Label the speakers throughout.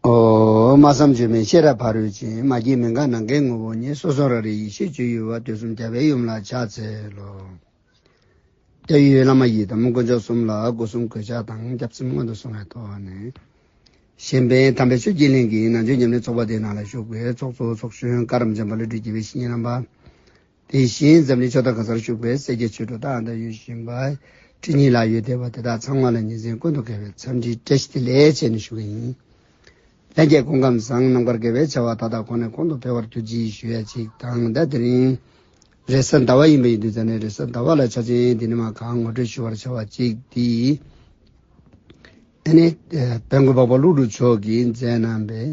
Speaker 1: སྨྲ་བསམ་བརྗོད་མེད་ཤེས་རབ་ཕ་རོལ་ཕྱིན་མ་སྐྱེས་མི་འགག་ནམ་མཁའི་ངོ་བོ་ཉིད་སོ་སོར་རང་རིག་ཡེ་ཤེས་སྤྱོད་ཡུལ་བ་དུས་གསུམ་རྒྱལ་བའི་ཡུམ་ལ་ཕྱག་འཚལ་ལོ། རྒྱ་ཡི་བླ་མ་ཡི་དམ་དཀོན་མཆོག་གསུམ་ལ་སྐུ་གསུང་གོས་ཕྱག་དང་སྐྱབས་སེམས་སྔོན་དུ་སོང་བའི་ཐོག་ནས། གཞན་ཕན་དམ་པའི་ཆོས་ཀྱི་གླིང་གི་ནང་ཆོས་ཉམས་ལེན་ཚོགས་པ་དེའི་ནང་ལ་ཞུགས་པའི་ཚོགས་གཙོ་ཚོགས་གཞོན་བཀའ་རམས་ཆེན་པ་ཀླུ་སྒྲུབ་རྒྱལ་བའི་བཤེས་གཉེན་རྣམ་པ། དེ་བཞིན་འཛམ་གླིང་ཕྱོགས་མཐའ་གང་སར་བཞུགས་པའི་སེར་སྐྱ་ཆོས་གྲོགས་དག་འདྲ་ཡོད་བཞིན་པ་ཁྲི་གཉིས་ལྷག་ཡོད་བསྡད་པ་དེ་དག་ཚང་མ་ལ་ཉིན་མཚན་ཀུན་ཏུ་དགེ་བའི་འཚམས་འདྲི་བཀྲ་ཤིས་བདེ་ལེགས་བྱས་ནས་ཞུ་གི་ཡིན། ལྷན་རྒྱས་སྐུ་ཁམས་བཟང་རྣམ་དཀར་དགེ་བའི་བྱ་བ་དག་དག་གོང་ནས་གོང་དུ་འཕེལ་བར་གྱུར་ཅིག་ཞུ་ཡ་ཅིག་དང་ཟླ་འདི་རིང་རེས་གཟའ་ཟླ་བ་ཡིན་པ་ཡིན་དུས་གཟའ་ནས་རེས་གཟའ་ཟླ་བ་ལ་ཆ་ཆེན་འདི་ནི་མ་གང་ངོ་སྤྲོད་ཞུ་བར་བྱ་བ་ཅིག་འདིས། ཨ་ནེ། དཔལ་མགོན་འཕགས་པ་ཀླུ་སྒྲུབ་མཆོག་གིས་མཛད་གནང་བའི།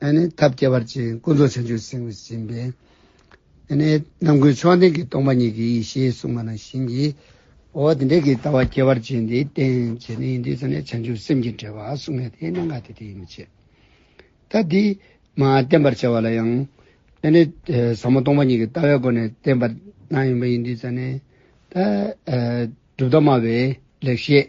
Speaker 1: ཐབས་བསྐྱེད་བར་ཅན་ཀུན་རྫོགས་བྱང་ཆུབ་སེམས་ཀྱི་སྦྱིན་པས། རྣམ་ཀུན་མཆོག་ལྡན་གྱི་སྟོང་པ་ཉིད་ཀྱི་ཡེ་ཤེས་གསུངས་པ་ནང་བཞིན་གྱིས། འོ་དེ་འདྲའི་གི་ལྟ་བ་བསྐྱེད་པར་བྱེད་འདི་བསྟན་བྱས་ནི་ཡིན་དུས་སུ་ནི་བྱང་ཆུབ་སེམས་ཀྱི་འབྲེལ་བ་གསུངས་ནས་དེ་གནང་ག་དེ་དེ་ཡིན་མི་བྱེད། ད་འདི་མ་བསྟན་པར་བྱ་བ་ལ་ཡང། ཟབ་མོ་སྟོང་པ་ཉིད་ཀྱི་ལྟ་བའི་སྒོ་ནས་བསྟན་པར་གནང་ཡིན་པ་ཡིན་དུས་སུ་ནི། གྲུབ་མཐའ་སྨྲ་བའི་ལེགས་བཤད།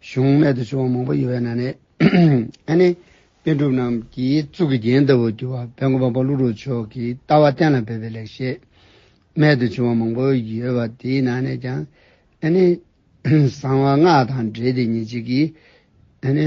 Speaker 1: གཞུང་སྨད་དུ་བྱུང་བ་མང་པོ་ཡོད་པའི་ནང་ནས་ཨ་ནེ་པཎ་གྲུབ་རྣམས་ཀྱིས་གཙུག་གི་རྒྱན་ལྟ་བུར་གྱུར་བ་བན་གོ་འབངས་པ་ཀླུ་རུ་མཆོག་གི་ལྟ་བ་གཏན་ལ་འབེབས་པའི་ལེགས་བཤད་སྨད་དུ་བྱུང་བ་མང་པོ་ཡོད་པ་དེའི་ནང་ནས་ཀྱང་ཨ་ནེ་གསང་བ་སྔགས་དང་འབྲེལ་ཏེ་ཉིན་གཅིག་གིས་ཨ་ནེ།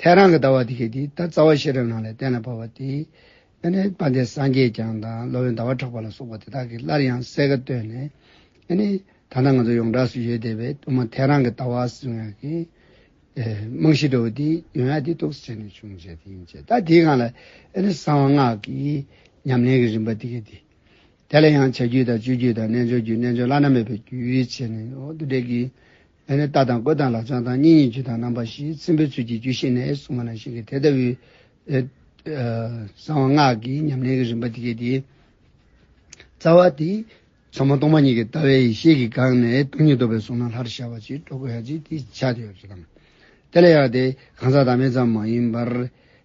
Speaker 1: ཐལ་རང་གི་ལྟ་བ་དེ་ཁེགས་ཏེ་ད་རྩ་བ་ཤེས་རབ་རྣམས་ལས་གཏན་ལ་ཕབ་པ་དེ། ཨེ་ནི་དཔའ་འདས་སངས་རྒྱས་བསྐྱངས་དང་སློབ་དཔོན་ཟླ་བ་གྲགས་པ་ལ་སོགས་པ་དེ་དག་གིས་སླར་ཡང་གསལ་ཁ་བཏོད་ནས། ཨེ་ནི། ད་ལྟ་ང་ཚོ་ཡོངས་གྲགས་སུ་ཡོད་བསྡད་པའི་དབུ་མ་ཐལ་རང་གི་ལྟ་བ་གསུང་ཡ་གི། རྨང་གཞི་དྲོ་བོ་དེ་ཡོན་ཡ་དེ་རྟོགས་སུ་བྱས་ནས་བྱུང་བྱས་དེ་ཡིན་བྱས་ད་དེའི་སྒང་ལ་ཨེ་ནི་གསང་བ་སྔགས་ཀྱི་ཉམས་ལེན་གྱི་རིམ་པ་དེ་ཁེགས་ཏེ། དེ་ལ་ཡང་བྱ་རྒྱུད་དང་སྤྱོད་རྒྱུད་དང་རྣལ་འབྱོར་རྒྱུད་རྣལ་འབྱོར་བླ་ན་མེད་པའི་རྒྱུད་ཅེས་ནས་འོག་ཏུ་འགྲེལ་གྱི། ལན་ནི་ལྟ་དང་བཀོད་དང་ལག་བཅངས་དང་གཉིས་གཉིས་བརྗོད་དང་རྣམ་པ་བཞིའི་ཚིམ་པའི་ཚུལ་གྱིས་རྒྱུད་བཤད་ནས་གསུངས་པ་ནང་བཞིན་གྱི་དེ་ལྟ་བུའི། གསང་བ་སྔགས་ཀྱི་ཉམས་ལེན་གྱི་རིམ་པ་འདི་སྐད་དེ། རྩ་བ་འདི། ཟབ་མོ་སྟོང་པ་ཉིད་ཀྱི་ལྟ་བའི་ཡེ་ཤེས་ཀྱིས་དགག་ནས་སྟོང་ཉིད་རྟོགས་པའི་གཟུང་སྣང་ལྷར་ཤར་བ་ཅིག་སྤྲོ་དགོས་ཡ་གཅིག་དེ་བྱ་དེ་ཡོད་དོ། དེ་ལས་ཡང་དེ་གང་ཟག་བདག་མེད་ཙམ་མ་ཡིན་པར།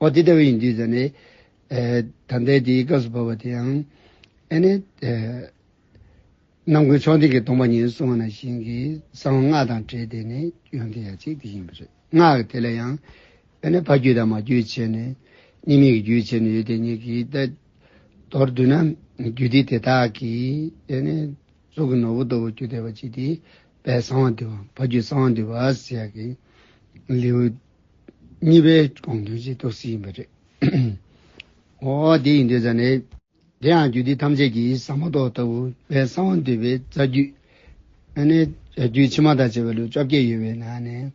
Speaker 1: འོ་དེ་ལྟ་བུ་ཡིན་དུས་ཟེར་ནས། ད་ལྟའི་དེའི་སྐབས་སུ་བབས་པ་དེ་ཡང། ཨེ་ནས། རྣམ་ཀུན་མཆོག་འདི་གའི་སྟོང་པ་ཉིད་གསུང་བ་ན་བཞིན་གྱི་གསང་བ་སྔགས་དང་བྲལ་དེ་ནི་ཡོན་ཏན་ཡ་གཅིག་དེ་ཡིན་པ་རེད། སྔགས་དེ་ལ་ཡང། ཨེ་ནས་ཕ་རྒྱུད་དང་མ་རྒྱུད་ཕྱེ་ནས། གཉིས་མེད་ཀྱི་རྒྱུད་ཕྱེ་ནས་ཡོད་དེ་གཉིས་ཀྱིས་ཏེ། མདོར་བསྡུ་ན། རྒྱུད་སྡེ་དེ་དག་གིས། ཨེ་ནས། གཙུག་གི་ནོར་བུ་ལྟ་བུ་རྒྱུད་སྡེ་བ་གཅིག་དེ། པའི་གསང་བ་འདུས་པ་ཕ་རྒྱུད་གསང་བ་འདུས་པ་ཟེར་ཡ་གི། ལེའུ། གཉིས་པའི་དགོངས་དོན་གྱི་རྟོགས་ཚིག་ཡིན་པ་རེད། འོ་དེ་ཡིན་དུས་ཙམ་ནས། དེ་ཡང་རྒྱུད་སྡེ་ཐམས་ཅད་ཀྱི་ཟབ་མོ་ཐོག་ལྟ་བུ་བའི་གསང་བ་འདུས་པའི་རྩ་རྒྱུད་ཨ་ནི་རྒྱུད་ཕྱི་མ་དང་བཅས་པའི་ལེའུ་བཅོ་བརྒྱད་ཡོད་པའི་ནང་ནས་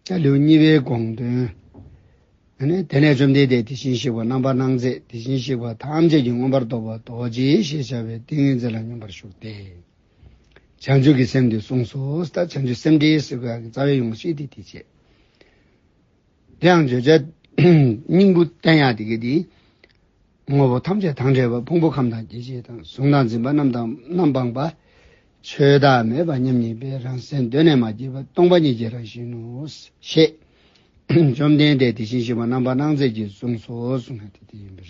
Speaker 1: ཀྱང་ལེའུ་གཉིས་པའི་དགོངས་དོན་ཨ་ནི་དེ་ནས་བཅོམ་ལྡན་འདས་དེ་བཞིན་གཤེགས་པ་རྣམ་པར་སྣང་མཛད་དེ་བཞིན་གཤེགས་པ་ཐམས་ཅད་ཀྱི་མངོན་པར་རྟོགས་པ་རྡོ་རྗེ་ཞེས་བྱ་བའི་ཏིང་ངེ་འཛིན་ལ་སྙོམས་པར་ཞུགས་ཏེ། བྱང་ཆུབ་ཀྱི་སེམས་འདི་གསུངས་སོ། ད་བྱང་ཆུབ་སེམས་འགྲེལ་བསེ་གོལ་གྱི་རྩ་བའི་ཡོངས་ཤེས་དེ་དེ་བྱེད། དེའང་བརྗོད་བྱ་སྙིང་པོ་བསྟན་ཡང་དེ་སྐད་དེ། དངོས་པོ་ཐམས་ཅད་དང་བྲལ་བ་ཕུང་པོ་ཁམས་དང་སྐྱེ་མཆེད་དང་གཟུང་དང་འཛིན་པ་རྣམས་དང་རྣམ་སྤངས་པ། ཆོས་བདག་མེད་པ་མཉམ་ཉིད་པའི་རང་སེམས་གདོད་ནས་མ་སྐྱེས་པ་སྟོང་པ་ཉིད་ཀྱི་རང་བཞིན་ནོ། ཞེས་བཅོམ་ལྡན་འདས་དེ་བཞིན་གཤེགས་པ་རྣམ་པར་སྣང་མཛད་ཀྱིས་གསུངས་སོ་གསུངས་ན་དེ་དེ་ཡིན་པར།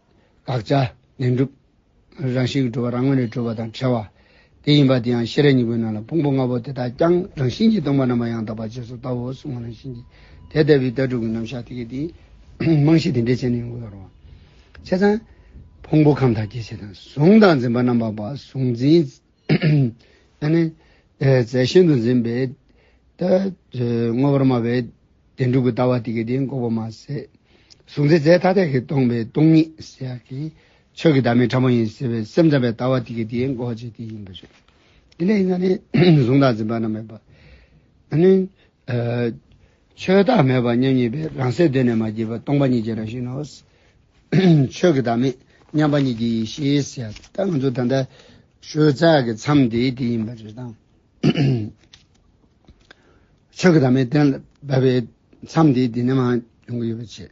Speaker 1: དགག་བྱ། ལན་གྲུབ། རང་བཞིན་གྱི་གྲུབ་པ་རང་ངོ་ནས་གྲུབ་པ་དང་བྲལ་བ། དེ་ཡིན་པ་དེ་ཡང་ཤེས་རབ་སྙིང་པོའི་ནང་ལ་ཕུང་པོ་ལྔ་པོ་དེ་དག་ཀྱང་རང་བཞིན་གྱིས་སྟོང་པ་རྣམ་པར་ཡང་དག་པར་རྗེས་སུ་ལྟ་འོ་གསུང་བ་རང་བཞིན་གྱིས་དེ་ལྟ་བུའི་ལྟ་གྲུབ་ཀྱི་རྣམ་གཞག་དེ་གས་དེ། རྨང་གཞི་དེ་འདྲའི་བྱས་ནས་ཡོང་གི་ཡོད་རུང། བྱས་ཙང། ཕུང་པོ་ཁམས་དང་སྐྱེ་མཆེད་དང་གཟུང་དང་འཛིན་པ་རྣམ་པར་པ་གཟུང་འཛིན། ད་ནི་རྫས་ཤིན་ཏུ་འཛིན་པས་ད་བསྔོ་བར་སྨྲ་བའི་བདེན་གྲུབ་ཀྱི་ལྟ་བ་དེ་གའི་དེ་འགོག་པར་མ་ཟད། གཟུགས་འཛིན་རྫས་ཐ་དད་ཀྱིས་སྟོང་པའི་སྟོང་ཉིད་ཟེར་བ་དེ་ཆོས་ཀྱི་བདག་མེད་ཕྲ་མོ་ཡིན་ཟེར་བའི་སེམས་ཙམ་པའི་ལྟ་བ་དེ་གའི་དེ་འགོག་བྱེད་དེ་ཡིན་པར་བྱེད། དེ་ལས་ཡིན་ན་ནི་གཟུང་དང་འཛིན་པ་རྣམས་མེད་པ། ད་ནི། ཆོས་བདག་མེད་པར་མཉམ་ཉིད་པས་རང་གསལ་གདོད་ནས་མ་སྐྱེས་པ་སྟོང་པ་ཉིད་ཀྱི་རང་བཞིན་ནོ། ཆོས་ཀྱི་བདག་མེད་མཉམ་པ་ཉིད་ཀྱི་ཡེ་ཤེས་ཟེར་ཡ། ད་ང་ཚོ་ད་ལྟ་ཞོལ་རྩ་གི་མཚམས་དེ་དེ་ཡིན་པ་རེད་དམ། ཆོས་ཀྱི་བདག་མེད་གཏན་ལ་དབབ་པའི་མཚམས་དེ་དེ་ནས་མ་ཡོང་གི་ཡོད་པ་བྱས།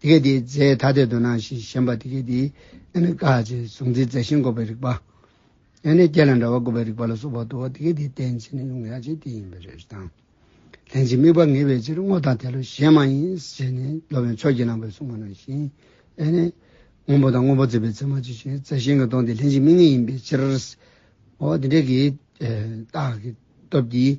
Speaker 1: དེ་གའི་དེའི་རྫས་ཐ་དད་དུ་སྣང་ཞེས་ཞེན་པ་དེ་གའི་དེའི་ཨ་ནི་ཀ་ཅེས་གཟུང་འཛིན་རྫས་ཤིང་འགོག་པའི་རིགས་པ། ཨ་ནི་སྐྱེ་ལ་འདྲ་བ་འགོག་པའི་རིགས་པ་ལ་སོགས་པ་དུ་བ་དེ་གའི་དེའི་རྟེན་ཅན་ནི་ཡོངས་གྲགས་ཅན་དེ་ཡིན་པའི་རེ་དང། ལྷན་ཅིག་དམིགས་པ་ངེས་པའི་ཕྱིར་སྔོ་དང་དལ་ལོ་གཞན་མ་ཡིན་ཞེས་ནི་སློབ་དཔོན་ཕྱོགས་ཀྱིས་བླངས་པའི་གཟུང་བ་ནང་བཞིན་ཨ་ནི། སྔོན་པོ་དང་སྔོན་པོ་བརྩི་བའི་ཚད་མ་ཅི་ཞིག་རྫས་ཤིང་གི་སྟོང་དེ་ལྷན་ཅིག་དམིགས་ངེས་ཡིན་པའི་ཕྱིར། འོ་དེ་འདྲའི་གི། རྟགས་ཀྱི་སྟོབས་ཀྱིས་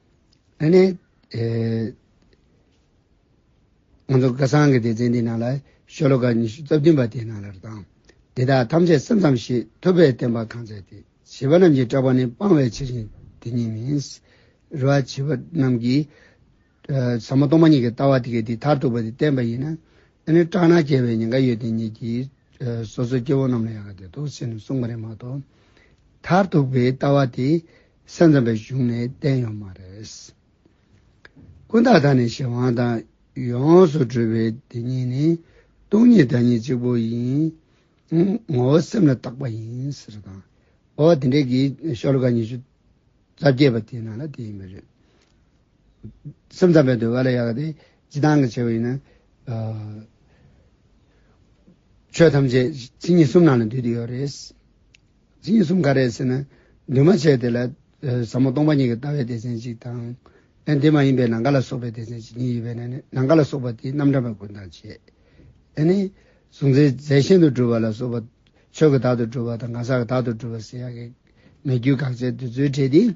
Speaker 1: ད་ནི། ང་ཚོ་སྐལ་བཟང་གི་སྡེ་ཚན་འདིའི་ནང་ལ་ཤོ་ལོ་ཀ་ཉི་ཤུ་རྩ་བདུན་པ་དེ་རྣམས་ལ་རེ་དང། འདི་དག་ཐམས་ཅད་སེམས་ཙམ་ཞིག་ཐུབ་པས་བསྟན་པ་གང་མཛད་དེ། བྱིས་པ་རྣམས་ཀྱིས་སྐྲག་པ་ནི་སྤང་བའི་ཕྱིར་ཡིན་དེ་ཉིད་མིན། རེ་བ་བྱིས་པ་རྣམས་ཀྱིས། ཟབ་མོ་སྟོང་པ་ཉིད་ཀྱི་ལྟ་བ་དེ་གས་དེ་མཐར་ཐུག་པ་དེ་བསྟན་པ་ཡིན་ན། ད་ནི་སྐྲག་ན་སྐྱེ་བའི་ཉེན་ཁ་ཡོད་དེ་ཉིད་ཀྱིས། སོ་སོའི་སྐྱེ་བོ་རྣམས་ལ་ཡང་དེ་ལྟར་དུ་ཟེར་ནས་གསུངས་པ་རེད་མ་གཏོགས། མཐར་ཐུག་པའི་ལྟ་བ་དེ། ས་མཚམས་པའི་གཞུང་ནས་བསྟན་ཡོད་མ་རེད། ཀུན་བརྟགས་དང་ནི་གཞན་དབང་དང་ཡོངས་སུ་གྲོལ་བའི་དེ་ཉིད་ནི་སྟོང་ཉིད་བདག་ཉིད་གཅིག་པུ་ཡིན། ངོ་བོ་སེམས་ལ་བཏགས་པ་ཡིན་ཟེར་བ་དང། འོ་དེ་འདྲའི་གི་ཤོ་ལོ་ཀ་ཉི་ཤུ་རྩ་བརྒྱད་པ་དེ་ནང་ལ་དེ་ཡིན་པ་རེད། སེམས་ཙམ་པའི་འདོད་པ་ལ་ཡག་དེ་ཅི་སྟངས་ཀྱི་ཆེ་བ་ཡིན་ན། ཆོས་ཐམས་ཅད་ཕྱི་ཉིད་གསུམ་ནང་ལ་འདུས་ཏེ་ཡོད་རེད། འཛིན་གསུམ་ག་རེད་ཟེར་ན། འདུས་མ་བྱས་དེ་ལ་ཟབ་མོ་སྟོང་པ་ཉིད་ཀྱི་ལྟ་བའི་སྡེ་ཚན་གཅིག་དང། ཨེ་འདི་མ་ཡིན་པའི་ནང་ག་ལ་སོགས་པའི་སྡེ་ཚན་གཅིག་གཉིས་ཡོད་པས་ན་ནི་ནང་ག་ལ་སོགས་པ་དེའི་རྣམ་གྲངས་པ་ཀུན་དང་བཅས། ཨེ་ནི། གཟུང་འཛིན་རྫས་གཞན་དུ་སྒྲུབ་པ་ལ་སོགས་པ། ཆོས་ཀྱི་བདག་ཏུ་སྒྲུབ་པ་དང་གང་ཟག་གི་བདག་ཏུ་སྒྲུབ་པ་ཟེར་ཡག་གི། མེད་རྒྱུའི་དགག་བྱའི་འདོད་ཚུལ་འབྲེལ་ཏེ།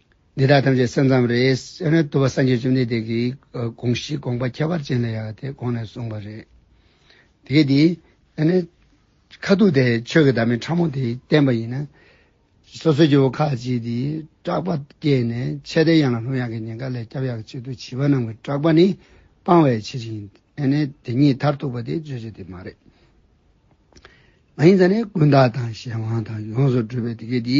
Speaker 1: འདི་དག་ཐམས་ཅད་སེམས་ཙམ་རེད། སེམས་རེད་དུ་བ་སངས་རྒྱས་བཅོམ་ལྡན་འདས་ཀྱིས་དགོངས་གཞི་དགོངས་པ་ཁྱད་པར་ཅན་ལ་ཡང་དེ་དགོངས་ནས་གསུངས་པ་རེད། དེ་གས་དེ། ཁ་ཐུག་དེ་ཆོས་ཀྱི་བདག་མེད་ཕྲ་མོ་དེ་བསྟན་པ་ཡིན་ན། སོ་སོའི་སྐྱེ་བོ་ཁ་ཅིག་དེ་སྐྲག་པ་སྐྱེས་ནས་ཆད་ལྟའི་གཡང་ལ་ལྷུང་གཡང་གི་ཉེན་ཁ་ལས་སྐྱབས་ཡག་བྱེད་དུ་བྱིས་པ་རྣམས་ཀྱི་སྐྲག་པ་ནི་སྤང་བའི་ཕྱིར་ཡིན། དེ་ཉིད་མཐར་ཐུག་པ་དེ་རྗོད་བྱེད་དེ་མ་རེད། མ་ཡིན་ཙང་ནི་ཀུན་བརྟགས་དང་གཞན་དབང་དང་ཡོངས་སུ་གྲུབ་པའི་དེ་གས་དེ།